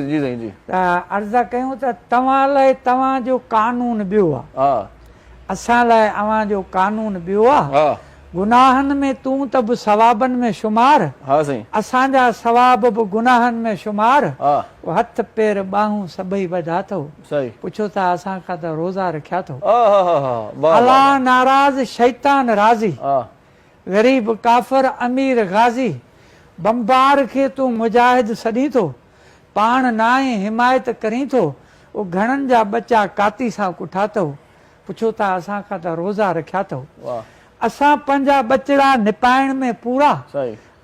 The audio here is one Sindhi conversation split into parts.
جي سائين جي. ته عرض ڪيون ته توهان لاء توهان جو قانون ٻيو آ. ها. اسان لاء اوهان جو قانون ٻيو آ. ها. گناهن ۾ تون ته به ثوابن ۾ شمار. ها سائين. اسان جا ثواب به گناهن ۾ شمار. ها. پوء هٿ پير ٻانهون سڀئي ٻڌا ٿو. سائين. پڇو ٿا اسان کان ته روزا رکيا ٿو. آهاهاها واهه واهه. الله ناراض شيطان راضي. ها. غريب ڪافر امير غازي بمبار کي تون مجاهد سڏين ٿو پاڻ ناهين حمايت ڪرين ٿو او گهڻن جا ٻچا ڪاتي سان ڪٺا ٿئو پڇو ٿا اسان کان ته روزا رکيا ٿئو اسان پنهنجا ٻچڙا نپائڻ ۾ پورا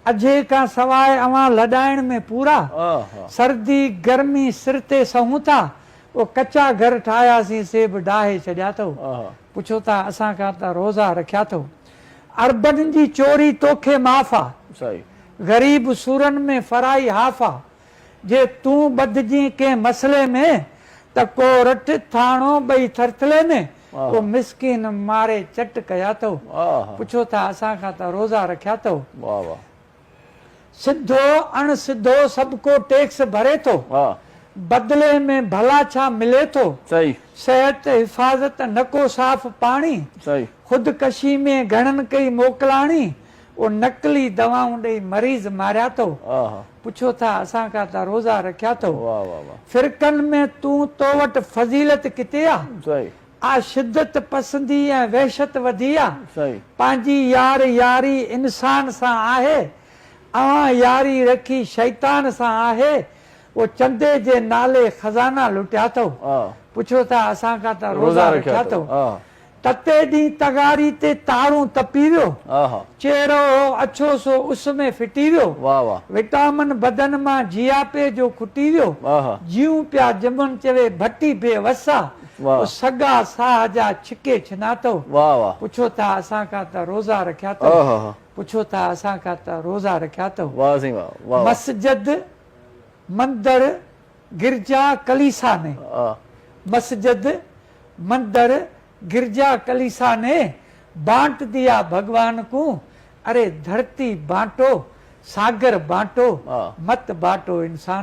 اجهي کان سواء اوهان لڏائڻ ۾ پورا سردي گرمي سر تي سهون ٿا او ڪچا گهر ٺاهياسين سي به ڊاهي ڇڏيا ٿئو پڇو ٿا اسان کان ته روزا رکيا ٿئو. اربن جي چوري توکي معاف آ، غريب سورن ۾ فرائي هاف آ، جي تون ٻڌجين ڪنهن مسئلي ۾ ته ڪورٽ ٿاڻو ٻئي ٿرٿلي ۾، ڪو مسڪين ماري چٽ ڪيا اٿئو، پڇو ٿا اسان کان ته روزا رکيا اٿئو. سڌو اڻ سڌو سڀ ڪو ٽيڪس ڀري ٿو. بدلي ۾ ڀلا ڇا ملي ٿو؟ صحت، حفاظت، نه ڪو صاف پاڻي. خودڪشي ۾ گهڻن ڪئي موڪلاڻي. او نقلي دوائون ڏئي مريض ماريا ٿو. پڇو ٿا اسان کان ته روزا رکيا ٿو. فرقن ۾ تون تو وٽ فضيلت ڪٿي آ؟ آ شدت پسندي ۽ وحشت وڌي آ پنهنجي يار ياري انسان سان آهي اوهان ياري رکي شيطان سان آهي او چندي جي نالي خزانا لٽيا ٿئو پڇو ٿا اسان کان ته روزا رکيا ٿئو تتي ڏينهن تغاري تي تارون تپي ويو چهرو هو اڇو سو اس ۾ ڦٽي ويو وٽامن بدن مان جياپي جو کٽي ويو جيون پيا جمن چوي ڀٽي بي وس آ واھ. او سڳا ساھ جا ڇڪي ڇنا ٿو. واھ واھ. پڇو ٿا اسان کان ته روزا رکيا ٿو. اوھ اوھ. پڇو ٿا اسان کان ته روزا رکيا ٿو. واھ سائين واھ واھ واھ. مسجد، مندر، گرجا، ڪليسا ني. آه. مسجد، مندر، گرجا، ڪليسا ني، بانٽ ديا ڀڳوان ڪون، اري ڌرتي بانٽو، ساگر بانٽو، آه. مت بانٽو انسان.